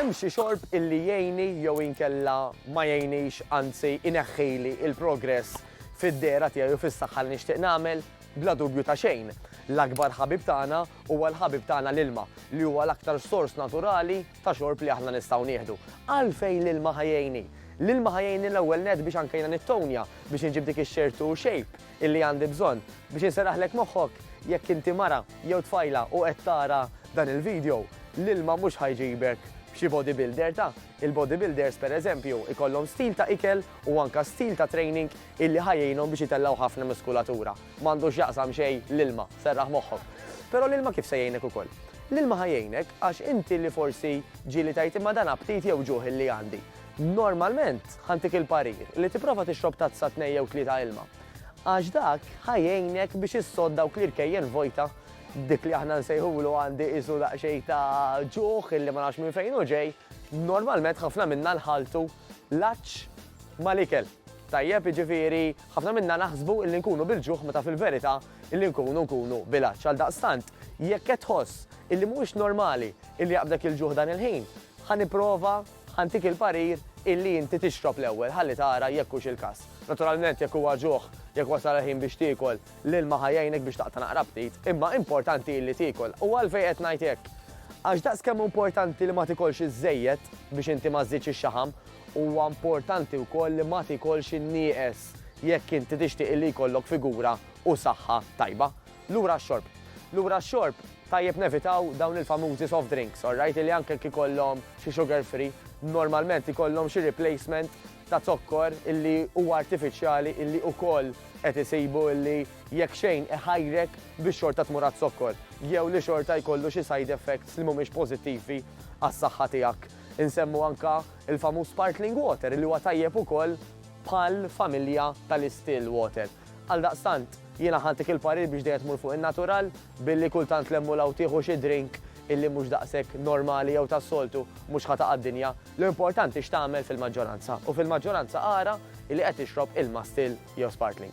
Hemm xi xorb illi jgħinni jew inkella ma jgħinnix anzi ineħħili il-progress fid-dehra tiegħi u fis-saħħa li nixtieq nagħmel? Bla dubju ta' xejn, l-akbar ħabib tagħna huwa l-ħabib tagħna l-ilma, li huwa l-aktar sors naturali ta' xorb li aħna nistgħu nieħdu. Għalfejn l-ilma ħa jgħinni? L-ilma ħa jgħinni l-ewwel nett biex anke jiena nittonja, biex inġib dik ix-shape u shape illi għandi bżonn. Biex inserraħlek moħħok, jekk inti mara jew tfajla u qed tara dan il-video, l-ilma mhux ħa jġibek xi bodybuilder ta'. Il-bodybuilders pereżempju jkollhom stil ta' ikel u anke stil ta' training illi ħa jgħinhom biex itellgħu ħafna muskulatura. M'għandu x'jaqsam xejn l-ilma, serraħ moħħok. Però l-ilma kif se jgħinek ukoll? L-ilma ħa jgħinek għax inti li forsi ġieli tgħid imma dan aptit jew ġuħ illi għandi. Normalment ħa ntik il-parir li tipprova tixrob tazza tnejn jew tlieta ilma. Għax dak ħa jgħinek biex issodd dawk l-irkejjen vojta, dik li aħna nsejħulu għandi qisu daqsxejn ta' ġuħ illi ma nafx minn fejn hu ġej. Normalment ħafna minna nħalltu l-għatx mal-ikel. Tajjeb, jiġifieri, ħafna minna naħsbu illi nkunu bil-ġuħ meta fil-verità illi nkunu nkunu bil-għatx. Għaldaqstant, jekk qed tħoss illi mhuwiex normali illi jaqbdek il-ġuħ dan il-ħin, ħa nipprova, ħa ntik il-parir illi inti tixrob l-ewwel ħalli tara jekk hux il-każ. Naturalment jekk huwa ġuħ, jekk wasal il-ħin biex tiekol, l-ilma ħa jgħinek biex taqta' naqra aptit, imma importanti illi tiekol. U għalfejn qed ngħid hekk? Għax daqs kemm hu importanti li ma tikolx iżżejjed biex inti ma żżidx ix-xaħam, Huwa importanti wkoll li ma tiekolx in-nieqes jekk inti tixtieq illi jkollok figura u saħħa tajba. Lura x-xorb. Lura x-xorb, tajjeb nevitaw dawn il-famużi soft drinks, alright, illi anke jekk ikollhom xi sugar free, normalment ikollhom xi replacement ta' zokkor illi huwa artifiċjali illi wkoll qed isibu illi jekk xejn iħajrek biex xorta tmur għaz-zokkor jew li xorta jkollu xi side effects li mhumiex pożittivi għas-saħħa tiegħek. Insemmu anke l-famuż sparkling water li huwa tajjeb ukoll bħal familja tal-istill water. Għaldaqstant, jiena ħadtik il-parir biex dejjem tmur fuq in-natural billi kultant 'l hemm u 'l hawn tieħu xi drink illi mhux daqshekk normali jew tas-soltu mhux ħa taqa' d-dinja. L-importanti x'tagħmel fil-maġġoranza u fil-maġġoranza ara illi qed tixrob ilma still jew sparkling.